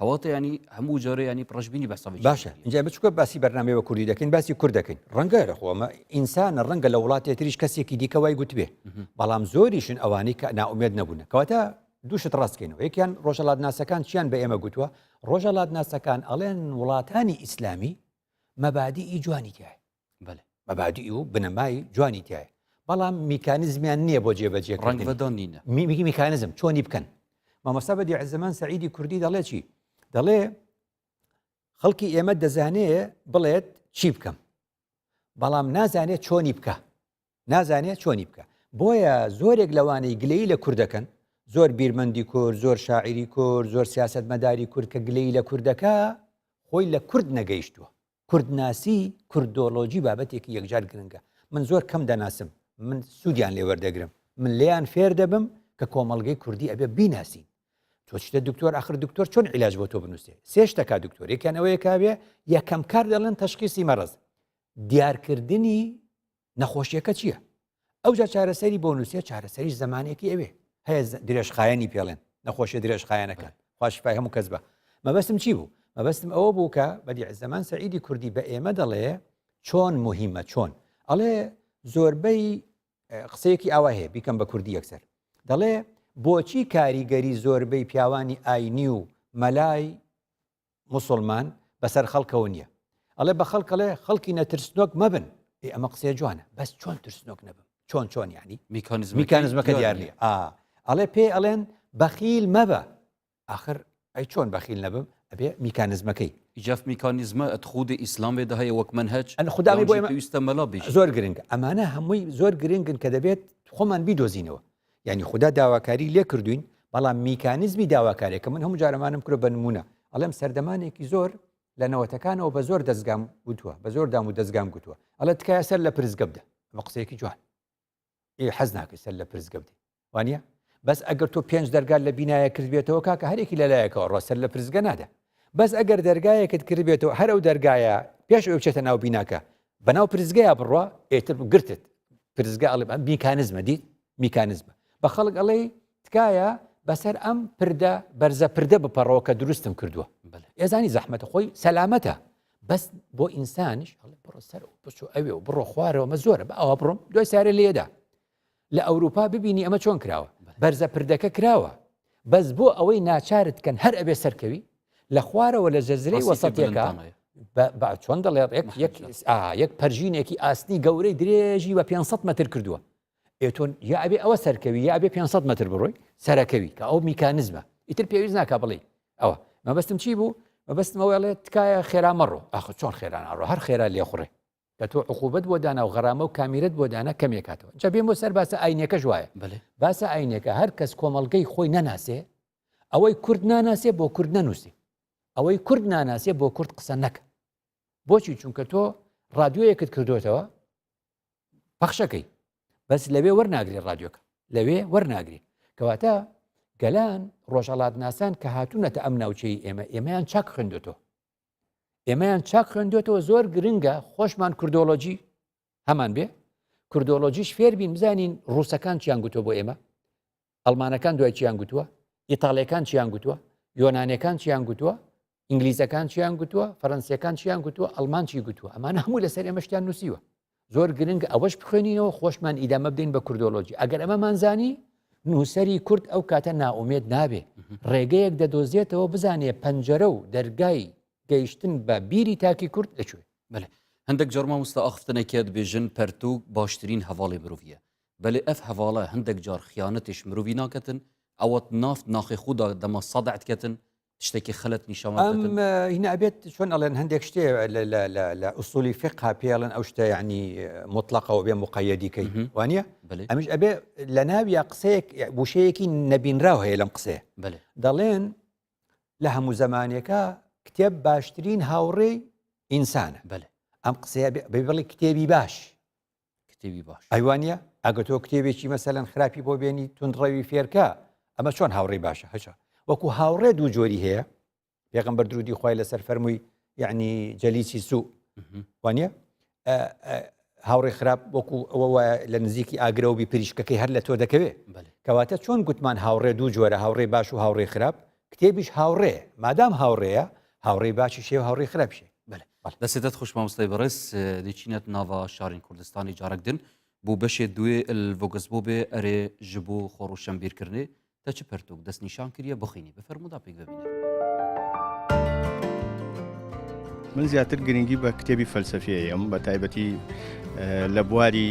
کەواتە ینی هەموو جۆرە ینی ڕژبینی بەسە باشە جای بچکە باسی بەرنامی بە کوردی دەکەین باسی کورد دەکەین ڕەنگە لە خۆمە ئینسانە ڕەنگە لە وڵاتی تریش کەسێکی دیکەوای گوتبێ بەڵام زۆریشن ئەوانی کە ناومێت نەبوون کەواتە دووشت ڕاستکەینەوە یەکیان ڕۆژەڵات ناسەکان چیان بە ئێمە گوتووە ڕۆژەڵات ناسەکان ئەڵێن وڵاتانی ئیسلامی مەبادی ئی جوانی تایە بەێ مەبادی و بنەمای جوانی تایە بەڵام میکانزمیان نییە بۆ جێبەجێ ڕنگ بەدۆنینە میمیگی میکانزم چۆنی بکەن مامۆستا بە دیعزمان سعیدی کوردی دەڵێ چی دەڵێ خەڵکی ئێمە دەزانێ بڵێت چی بکەم بەڵام نازانێت چۆنی بکە نازانێت چۆنی بکە بۆیە زۆرێک لەوانەی گلەی لە کوردەکەن زۆر بیرمەندی کورد زۆر شاعری کورد زۆر سیاست مەداری کورد کە گلەی لە کوردەکە خۆی لە کورد نەگەیشتووە کوردناسی کوردۆلۆجی بابەتێکی یەکجار گرنگە من زۆر کەم دەناسم من سوودیان لێ وەردەگرم من لێیان فێر دەبم کە کۆمەلگەی کوردی ئەبێ بیناسین تۆچتە دکتۆر ئەخر دکتۆر چۆن علاج بۆ تۆ بنووسێ سێشتەکە دکتۆرێکیانەوەیەکاوێ یەکەم کار دەڵێن تەشخیسی مەرز دیارکردنی نەخۆشیەکە چییە ئەوجا چارەسەری بۆ نووسێ چارەسەری زمانێکی ئەوێ هەیە درێژخایەنی پێڵێن نەخۆشیە درێژخایەنەکان خوشپای هەموو کەس بە مەبەستم چی بوو مەبەستم ئەوە بوو کە بەدی زەمان سەعیدی کوردی بە ئێمە دەڵێ چۆن مهمە چۆن ئەڵێ زۆربەی قسەیەکی ئاوا هەیە بیکەم بە کوردی یەکسەر دەڵێ بۆچی کاریگەری زۆربەی پیاوانی ئاینی و مەلای موسوڵمان بەسەر خەڵکەوە نیە ئەڵێ بە خەڵک ئەڵێ خەڵکی نەترسنۆک مەبن ئێ ئەمە قسەیە جوانە بەس چۆن ترسنۆک نەبم چۆن چۆن یعنی میکانزم میکانزمەکە دیار نیە ئا ئەڵێ پێ ئەڵێن بەخیل مەبە آخر ئەی چۆن بەخیل نەبم ئەبێ میکانزمەکەی جاف میکانیزمە ئەت خودی ئیسلام بێدا هەیە وەک من هەچ ئەن خوددامی بۆ ویستە مەلا بێژ زۆر گرنگ ئەمانە هەمووی زۆر گرنگن کە دەبێت خۆمان بیدۆزینەوە یعنی خودا داواکاری لێ کردوین بەڵام میکانزمی داواکارێکە من هەموو جارەمانم کرۆ بە نمونە ئەڵێم سەردەمانێکی زۆر لە نەوەتەکانەوە بە زۆر دەستگام گوتووە بە زۆر دام و دەستگام گوتووە ئەڵە تکایە سەر لە پرزگە بدە ئەمە قسەیەکی جوان ئێ حەز ناکە سەر لە پرزگە بدە وانە بەس ئەگەر تۆ پێنج دەرگال لە بینایە کردبێتەوە کاکە هەرێکی لە لایەکەوە ڕۆسەر لە پرزگە نادە بەس ئەگەر دەرگایەکت کردبێتەوە هەر ئەو دەرگایە پێش ئەوەی بچێتە ناو بیناکە بەناو پرسگەیە بڕوا ئێتر گرتت پرسگە ئەڵێ ئەم میکانزمە دیت میکانزمە بە خەڵک ئەڵێ تکایە بەسەر ئەم پردە بەرزە پردە بپەڕەوە کە دروستم کردووە ئێزانی زەحمەتە خۆی سەلامەتە بەس بۆ ئینسانیش بڕۆ سەر بچۆ ئەوێ و بڕۆ خوارەوە مە زۆرە بە ئەوە بڕۆم دوای سارە لێدا لە ئەوروپا ببینی ئەمە چۆن کراوە بەرزە پردەکە کراوە بەس بۆ ئەوەی ناچارت کەن هەر ئەبێ سەرکەوی لە خوارەوە لە جەزرەی وەسەتەکە چۆن دەڵێت یەک پەرژینێکی ئاسنی گەورەی درێژی بە 500 متر کردووە ئێتۆن یاعبێ ئەوە سەرکەوی یاعبێ 500 متر بڕۆی سەرەکەوی کە ئەو میکانزمە ئیتر پێویست ناکە بڵێ ئەوە مەبەستم چی بوو مەبەستمەوەڵێت تکایە خێرا مەڕۆ ئاخ چۆن خێران ئەڕۆ هەر خێرا لێخڕێ کە تۆ عقوبەت بۆ دانا و غەرامە و کامیرەت بۆ دانا کەمێ کاتەوە جا بێمە سەر باسە ئاینیەکەش وایە بەلێ باسە ئاینیەکە هەر کەس کۆمەڵگەی خۆی نەناسێ ئەوەی کورد ناناسێ بۆ کورد نەنووسی ئەوەی کورد ناناسێ بۆ کورد قسە نەکە بۆچی چونکە تۆ ڕادیۆیەکت کردوێتەوە پەخشەکەی بەس لەوێ وەرناگری ڕادیۆکە لەوێ وەرناگری کەواتە گەلان ڕۆژەڵات ناسان کە هاتوونەتە ئەم ناوچەی ئێمە ئێمەیان چاک خوێندێتەوە ئێمەیان چاک خوێندێتەوە زۆر گرنگە خۆشمان کوردۆلۆجی هەمان بێ کوردۆلۆژیش فێربین بزانین ڕووسەکان چیان گوتۆ بۆ ئێمە ئەلمانەکان دوای چیان گوتووە ئیتالەکان چیان گوتووە یۆنانەکان چیان گوتووە ئینگلیزەکان چیان گوتووە فەرەنسیەکان چیان گوتووە ئەلمانچی گوتووە ئەمان هەموو لەسەر ئێمەشتیان نووسیوە زۆر گرنگ ئەوەش بخوێنینەوە خۆشمان ئیدامە بدەین بە کوردۆلۆژی ئەگەر ئەمەمان زانی نووسری کورد ئەو کاتە ناومێت نابێ ڕێگەیەک دەدۆزێتەوە بزانێ پەنجەرە و دەرگای گەیشتن بە بیری تاکی کورد لەکوێ بەێ هەندێک جۆرمە وستا ئەخفتنەکێت بێژن پەرتوک باشترین هەواڵی مرۆڤە بەێ ئەف هەواڵە هەندێک جار خیانەتش مرۆڤی ناکەتن ئەوەت نافت ناخی خوددا دەمە سەدەعتکەتن شتێکی خەلت نیشەڵم هینابێت چۆن ئەڵێن هەندێک شتێ لە ئوسولی فقا پێڵن ئەو شتە ینی مطلقەوە بێ مقایەدیکەی وانە ئەمیش ئەبێ لە ناویە قسەیەک بوشەیەکی نەبینراو هەیە لەم قسێ دەڵێن لە هەموو زمانێکە کتێب باشترین هاوڕێی ئینسانە بەێ ئەم قسەیە بڵی کتێبی باش کتێبی باش ئەیوانە ئەگە تۆ کتێبێکی مەسەلەن خراپی بۆ بێنی تونڕەوی فێرکە ئەمە چۆن هاوڕێی باشە هەچە وەکو هاوڕێ دوو جۆری هەیە پێغم بەر درودی خی لەسەر فەرمووی یعنی جەلیسی سوو وانە هاوڕێ خراپ وەکو ئەوە وایە لە نزیکی ئاگرەوەبی پریشکەکەی هەر لە تۆ دەکەوێت کەواتە چۆن گوتمان هاوڕێ دوو جۆرە هاوڕێ باش و هاوڕێ خراپ کتێبیش هاوڕێ مادام هاوڕێیە هاوڕێی باشی شێ و هاوڕێی خراپ شێ دەسێتت خوش مامۆستای بەڕێز دیچینەت ناڤا شارین کوردستانی جارەک دن بۆ بەشێ دوێ الڤۆگس بۆ بێ ئەرێ ji بۆ خۆڕوشەم بیرکردێ تە چ پەرتوک دەست نیشان کریە بخینی بفەرمودا پێک ببینێ من زیاتر گرنگی بە کتێبی فەلسەفیەیەم بە تایبەتی لە بواری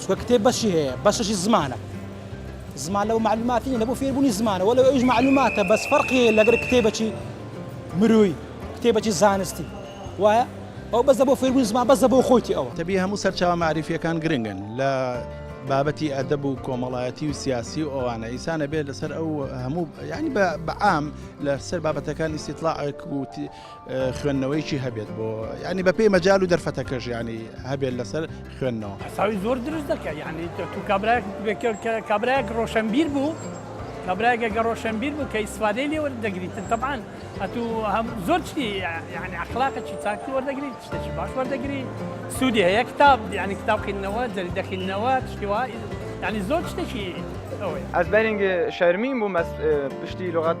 چونکە کتێب بەشی هەیە بەشەشی زمانە زمان لەو معلوماتی نیە بۆ فێربوونی زمانە وەلو ئەوش معلوماتە بەس فەرقی هەیە لەگەر کتێبەکی مروی کتێبەکی زانستی وایە ئەو بەزە بۆ فێربوون زمان بەزە بۆ خۆیتی ئەوە تەبی هەموو سەرچاوە معریفیەکان گرنگن لە بابەتی ئەدەب و کۆمەڵایەتی و سیاسی و ئەوانە ئیسانە بێت لەسەر ئەو هەموو ینی بە بەعام لەسەر بابەتەکانی سیتلاعک و خوێندنەوەیکی هەبێت بۆ ینی بەپی مەجال و دەرفەتەکەش ینی هەبێت لەسەر خوێندنەوە حساوی زۆر دروست دەکە ینی تو کابراک کابراک ڕۆشنبیر بوو کابراگە گە ڕۆشنبیر بوو کە ئیسفادەی لێ وەردەگریتن تەبان ئەتو هەم زۆر چی ینی ئەخلاقە چی چاکی وەردەگریت شتێکی باش وەردەگری سوودی هەیە کتاب ینی کتاب خینەوە جەری دەخینەوە شتیوا ینی زۆر شتێکی ئەوەی ئەس بەرنگ شەرمیم بوو مەس پشتی لغات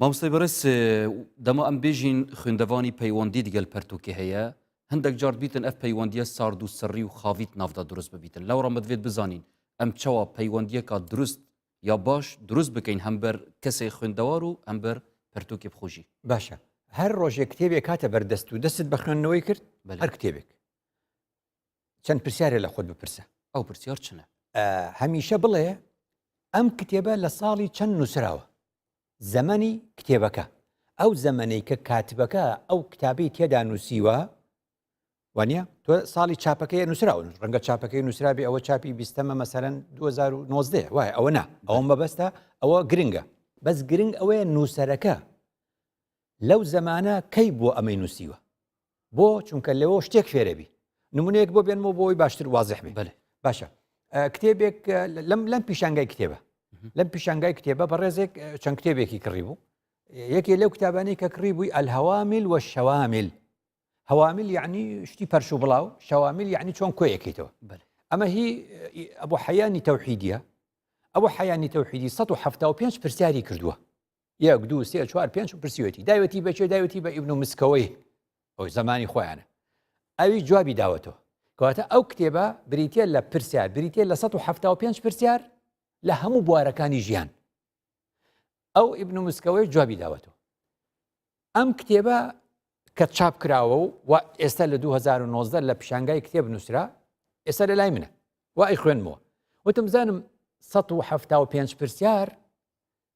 مامۆستای بەڕێز دەما ئەم بێژین خوێندەوانی پەیوەندی دگەل پەرتوکی هەیە هەندێک جار بیتن ئەف پەیوەندیە سارد و سڕی و خاویت ناودا دروست ببیتن لەو ڕەمەدوێت بزانین ئەم چاوە پەیوەندیەکە دروست یا باش دروست بکەین هەمبەر کەسێک خوێندەوار و ئەمبەر پەرتوکی بخۆشی باشە هەر ڕۆژێک کتێبێک کاتە بەردەست و دەستت بە خوێندنەوەی کرد هەر کتێبێک چەند پرسیارە لە خۆت بپرسە ئەو پرسیار چنە هەمیشە بڵێ ئەم کتێبە لە ساڵی چەند نووسراوە زەمەنی کتێبەکە ئەو زەمەەی کە کاتبەکە ئەو کتابی تێدا نووسیوە وانە تۆ ساڵی چاپەکەی نووسراون ڕەنگە چاپەکەی نووسرابێ ئەوە چاپی بیستەمە مەسەرەن 2009 وای ئەوە نا ئەوە مەبەستە ئەوە گرنگە بەس گرنگ ئەوەیە نووسەرەکە لەو زەمانە کەی بووە ئەمەی نووسیوە بۆ چونکە لەوە شتێک فێرەبی نمونەیەک بۆ بێنمەوە بۆی باشتر وازح بێ بەێ باشە کتێبێک لەم لەم پیشانگای کتێبە لەم پیشانگای کتێبە بە ڕێزێک چەند کتێبێکی کڕی بوو یەکێ لەو کتابانی کە کڕی بووی ئەلهوامیل وە شەوامیل هەوامیل یعنی شتی پەرش و بڵاو شەوامیل یعنی چۆن کۆیەکەیتەوە ئەمە هی ئەبوو حەیانی تەوحیدە ئەوە حەیانی تەوحیدی 1970 پرسیاری کردووە یەک دوو سێ چوار پێنج پرسیوەتی داوێتی بەچێ داوێتی بە ئیبن و مسکەوەی ئەو زمانی خۆیانە ئەوی جوابی داوەتەوە کەواتە ئەو کتێبە بریتە لە پرسیار بریتە لە 1970 پرسیار لە هەموو بوارەکانی ژیان ئەو ئیبن و مسکەوەی جوابی داوەتەوە ئەم کتێبە کە چاپ کراوە و و ئێستا لە 2009 لە پیشانگای کتێب نووسرا ئێستا لە لای منە و ئەی خوێنمەوە وتم بزانم 1970 پرسیار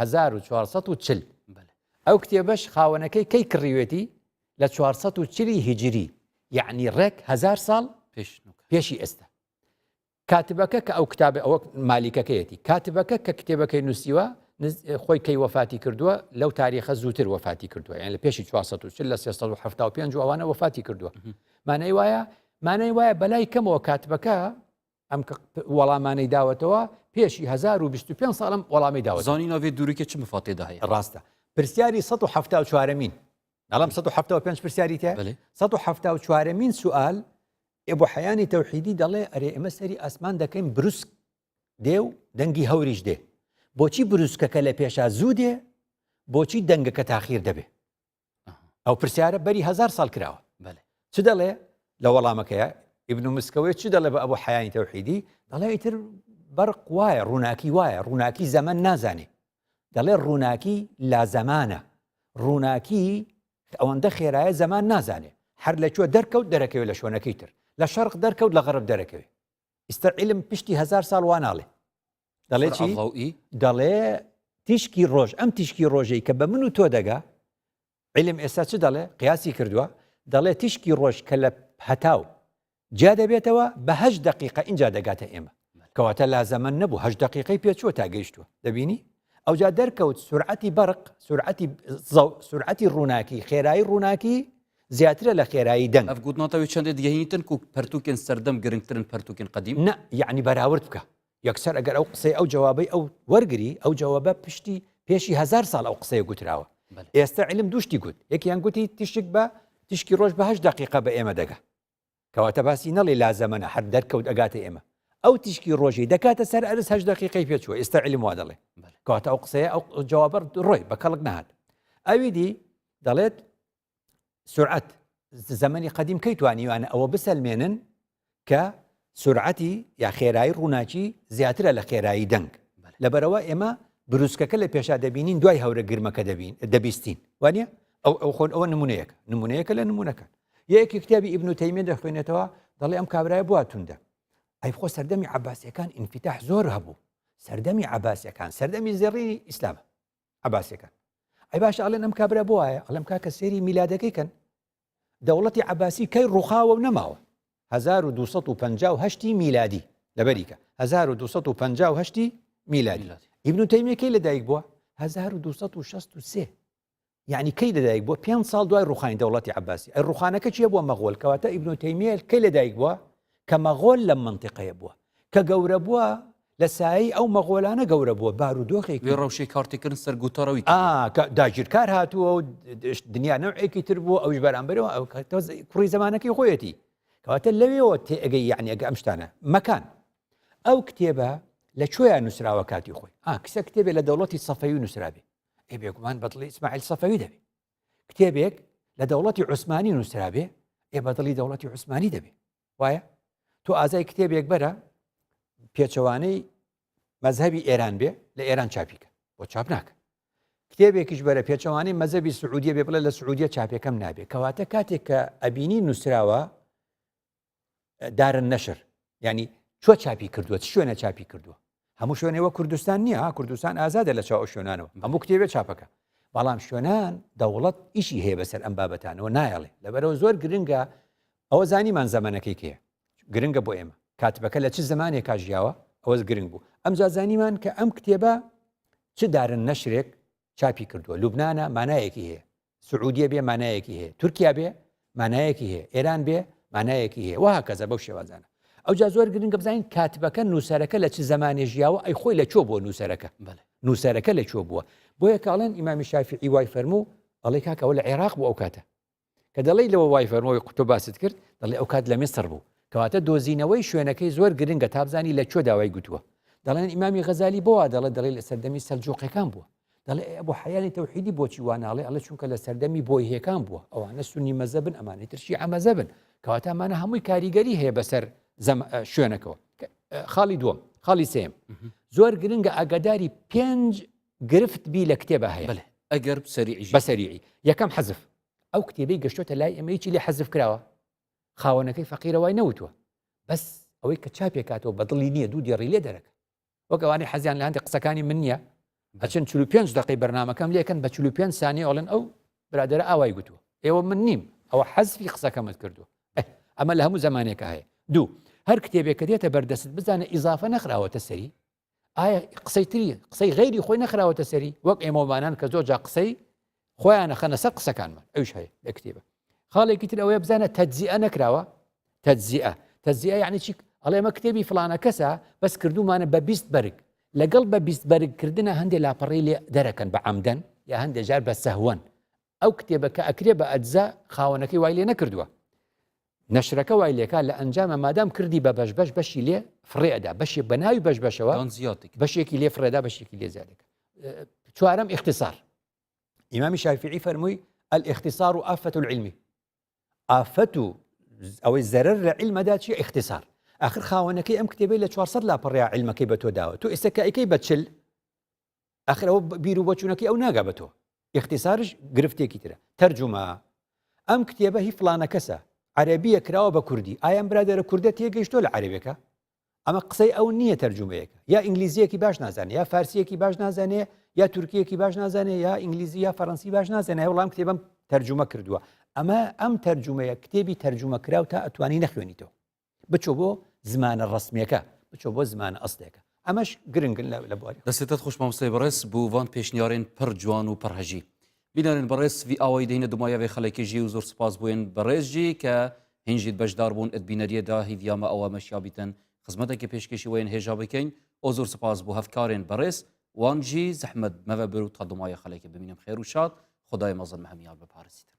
هەزار و چوار سەد و چل ئەو کتێبەش خاوەنەکەی کەی کڕیوێتی لە چوار سەد و چلی هیجری یعنی ڕێک هزار ساڵ پێشی ئێستا کاتبەکە کە ئەو کتابە ئەوە مالیکەکەیەتی کاتبەکە کە کتێبەکەی نووسیوە خۆی کەی وەفاتی کردووە لەو تاریخە زووتر وەفاتی کردووە یان لە پێشی 1940 لە 1970 ئەوانە وەفاتی کردووە مانای وایە مانای وایە بەلای کەمەوە کاتبەکە ئەم وەڵامانەی داوەتەوە پێشی 1925 ساڵم وەڵامی داوە زانی ناوێت دوورکە چ مفاتێدا هەیە ڕاستە پرسیاری 1970 چوارەمین ناڵم 1970 پرسیاری تێ 1970 چوارەمین سوال ئێبوو حەیانی تەوحیدی دەڵێ ئەرێ ئێمە سەری ئاسمان دەکەین بروسک دێ و دەنگی هەوریش دێ بۆچی بروسکەکە لە پێشا زوو دێ بۆچی دەنگەکە تاخیر دەبێ ئەو پرسیارە بەری هزار ساڵ کراوە چ دەڵێ لە وەڵامەکەیە ئیبن و مسکەوەی چ دەڵێ بە ئەبوو حیانی تەوحیدی دەڵێ ئیتر بەرق وایە ڕووناکی وایە ڕووناکی زەمن نازانێ دەڵێ ڕووناکی لا زەمانە ڕووناکی ئەوەندە خێرایە زەمان نازانێ هەر لە کوێ دەرکەوت دەرەکەوێت لە شوێنەکەی تر لە شەرق دەرکەوت لە غەرب دەرەکەوێت ئیستا علم پشتی هزار ساڵ واناڵێ دەڵێ چی دەڵێ تیشکی ڕۆژ ئەم تیشکی ڕۆژەی کە بە من و تۆ دەگا علم ئێستا چ دەڵێ قیاسی کردووە دەڵێ تیشکی ڕۆژ کە لە هەتاو جیا دەبێتەوە بەهش دقیقە اینجا دەگاتە ئێمە کەواتە لا زەمن نەبوو هەش دقیقەی پێچوە تا گەیشتووە دەبینی ئەوجا دەرکەوت سرعەتی بەرق سرعەتی سرعەتی ڕووناکی خێرایی ڕووناکی زیاترە لە خێرایی دەنگ ئەفگووتنەوەی چندێت گەهیتن و پرتوکن سەردەم گرنگترن پرتوکن قدیم نە یعنی بەراورد بکە یەکسەر ئەگەر ئەو قسەی ئەو جەوابەی ئەو وەرگری ئەو جەوابە پشتی پێشی هزار ساڵ ئەو قسەیە گوتراوە ئێستا علم دوشتی گوت یەکیان گوتی تیشک بە تیشکی ڕۆژ بەهش دقیقە بە ئێمە دەگە کەواتە باسی نەڵی لا زەمەە هەر دەرکەوت ئەگاتە ئێمە ئەو تیشکی ڕۆژی دەکاتە سەر ئەرز هەش دقیقی پێچوە ئێستا علم وا دەڵێ کەواتە ئەو قسەیە ئەو جوابەر ڕۆی بە کەڵک نهات ئەوی دی دەڵێت سرعەت زەمەنی قەدیم کەی توانیوانە ئەوە بسەلمێنن کە سرعەتی یا خێرایی ڕووناکی زیاترە لە خێرایی دەنگ لەبەرەوە ئێمە بروسکەکە لە پێشا دەبینین دوای هەورە گرمەکە دەبین دەبیستین وانە ئەو ئەو خۆن ئەوە نمونەیەک نمونەیەکە لە نمونونەکان یەکی کتابی ئیبن و تەیمێ دەخوێنێتەوە دەڵێ ئەم کابرای بواتوندا ئەی خۆ سەردەمی عباسیەکان ئینفتاح زۆر هەبوو سەردەمی عباسیەکان سەردەمی زێڕی ئیسلام عباسەکان ئەی باش ئەڵێن ئەم کابرا بۆ وایە ئەڵم کاکە سێری میلادەکەی کەن دەوڵەتی عباسی کەی ڕوخاوە و نەماوە 1950 میلادی لەبەریکە 1950 میلادی ئیبن تەیمەکەی لەدایک بووە 1963 یعنی کەی لەدایک بووە پێ ساڵ دوای ڕوخانی دەوڵەتی عباسی ئە ڕوخانەکە چیە بووە مەغۆل کەواتە ئیبن تەیمێل کەی لەدایک بووە کە مەغۆل لەم منتیقەیە بووە کە گەورە بووە لە سایەی ئەو مەغۆلانە گەورە بووە بارودۆخێکی. وێڕای شێ کارتێکردن سەر گوتەڕەوی تر بوو. ئا کە داگیرکار هاتووە و دنیا نەوعێکی تر بوو ئەویش بەرامبەرەوە ئەو کە تۆز کوڕی زەمانەکەی خۆیەتی. کەواتە لەوێەوە تێ ئەگەی یعنی ئەگە ئەم شتانە مەکان. ئەو کتێبە لە کوێیان نووسراوە کاتی خۆی. ئا کسە کتێبێ لە دەوڵەتی سەفەوی نووسرابێ. ئێ بێگومان بەدڵی ئیسماعیل سەفەوی دەبێ. کتێبێک لە دەوڵەتی عوسمانی نووسرابێ ئێ بەدڵی دەوڵەتی عوسمانی دەبێ. وایە تۆ ئازای کتێبێک بەرە پێچەوانەی مەذهبی ئێران بێ لە ئێران چاپیکە بۆ چاپ ناکە کتێبێکیش بەرە پێچەوانەی مەذهبی سعودیە بێ بڵێ لە سعودیە چاپەکەم نابێ کەواتە کاتێک کە ئەبینی نووسراوە دارن نەشر ینی چۆ چاپی کردووە شوێنە چاپی کردووە هەموو شوێنێ وەک کوردستان نییە ها کوردستان ئازادە لە چاو ئەو شوێنانەوە هەموو کتێبێ چاپەکە بەڵام شوێنان دەوڵەت ئیشی هەیە بەسەر ئەم بابەتانەوە نایەڵێ لەبەرەوە زۆر گرنگە ئەوە زانیمان زەمانەکەی کێ گرنگە بۆ ئێمە کاتبەکە لە چ زمانێک کاژیاوە ئەوەز گرنگ بوو ئەم جازانیمان کە ئەم کتێبە چ دارن نەشرێک چاپی کردووە لوبناە مانایەکی هەیە سعودیە بێ مانایەکی هەیە تورکیا بێ مانایەکی هەیە ئێران بێ مانایەکی هەیە وها کەزە بەو شێوازانە ئەو جا زۆر گرنگە بزانین کاتبەکە نووسەرەکە لە چ زمانێ ژیاوە ئەی خۆی لە چۆ بۆ نووسەرەکە نووسەرەکە لە چۆ بووە بۆیە کاڵێن ئیمامی شافی ئیوای فەرموو ئەڵی کاکەەوە لە عێراق بۆ ئەو کاتە کە دەڵی لەوە وای فەرمەوەی قوتۆ باست کرد دەڵێ ئەو کات لە میسر بوو کەواتە دۆزینەوەی شوێنەکەی زۆر گرنگە تابزانی لە چۆ داوای گوتووە دەڵێن ئیمامی غەزای بۆە دەڵێ دەڵی لە سەردەمی سەلجوقەکان بووە دەڵێ ئەی ئەبوو حەیانی تەوحیدی بۆچی وا ناڵێ ئەڵێ چونکە لە سەردەمی بۆیهێکان بووە ئەوانە سنی مەزەبن ئەمانی ترشی ئەمەزەبن کەواتەمانە هەمووی کاریگەری هەیە بەسەر شوێنەکەەوە خاڵی دووەم خاڵی سێم زۆر گرنگە ئاگاداری پێنج گرفت بی لە کتێبە هەیە ئەگەر بەسەریعی یەکەم حەزف ئەو کتێبی گەشتۆتە لای ئەمەیی لە حەزف کراوە خاوەنەکەی فەقیرەوای نەوتوە بەس ئەوەی کە چاپێکاتەوە بەدڵی نییە دوو دێڕی لێ دەرەکە وەک ئەوانەی حەزیان لە هەندێک قسەکانی من نییە ئەچن چلو پێنج دقی بەرنمەکەم لەکەن بە چلو پێنج سانی ئەڵێن ئەو برادرە ئاوای گوتووە ئێوە من نیم ئەوە حەزفی قسەکەمت کردووە ئەمە لە هەموو زمانێکە هەیە دوو هەر کتێبێک کە دێتە بەردەست بزانە ئیزافە نەخراوەتە سەری ئایا قسەی تری قسەی غیری خۆی نەخراوەتە سەری وەک ئێمەوانان کە زۆر جا قسەی خۆیان نەخەنە سەر قسەکانمان ئەوش هەیە لە کتێبە خاڵێکی تر ئەوەیە بزانە تەجزیە نەکراوە تەجزیە تەجزیە یعنی چی ئەڵێ ئەمە کتێبی فلانە کەسە بەس کردومانە بە بیست بەرگ لەگەڵ بە بیست بەرگکردە هەندێک لاپەڕی لێ دەرەکەن بە عمدەن یا هەندێک جار بە سەهوەن ئەو کتێبەکە ئەکرێ بە ئەجزا خاوەنەکەی وای لێ نەکردووە نەشرەکە وای لێکا لە ئەنجاما مادام کردی بە بەش بەش بەشی لێ فڕێ ئەدا بەشێک بە ناوی بەش بەشەوە دان زیاتێک بەشێکی لێ فڕێدا بەشێکی لێ زیادەکە چوارم اختصار ئیمامی شافعی فەرمووی الاختصار و ئافەت العلمی ئافەت و ئەوەی زەرەر لە علمەدا چی اختصار ئاخر خاوەنەکەی ئەم کتێبەی لە 400 لاپەڕیا علمەکەی بە تۆ داوە تۆ ئێستەکەیکەی بەچل ئەخر ئەوە بیر و بۆچوونەکەی ئەو ناگا بە تۆ ئیختصارش گرفتێکی ترە تەرجمە ئەم کتێبە هی فلانە کەسە عەربیە کراوە بە کوردی ئایان برادێرە کوردە تێگەیشتۆ لە عەربێکە ئەمە قسەی ئەو نییە تەرجمەیەەکە یا ئینگلیزیەکی باش نازانێت یا فارسیەکی باش نازانێ یا تورکیەکی باش نازانێ یا ئینگلیزی یا فەرەنسی باش نازانێ وڵام کتێبم تەرجمە کردووە ئەمە ئەم تەرجمەیە کتێبی تەرجمە کراو تا ئەتوانی نەخوێنیتەوە بچۆ بۆ زمانە ڕەسمیەکە بچۆ بۆ زمانە ئەسلێکە ئەمەش گرنگن لە بواری دەستێتت خوش مامۆستای بەڕێز بو وان پێشنیارێن پڕ جوان و پڕ هەژی بینەرێن بەڕێز وی ئاوای دەینە دمایاێ خەڵکی ژی و زۆر سپاس بوێن بەڕێز ژی کە هینژیت بەشدار بوون ئەت بینەریەدا هیڤیامە ئەوە مەشیا بیتن خزمەتێکی پێشکەشی وێن هێژا بکەین ئەو زۆر سپاس بۆ هەفکارێن بەڕێز وانجی زەحمەت مەوە بر و تا دمایە خەڵکی ببینم خێر و شاد خدای مەزن هەمیان بپارسیتن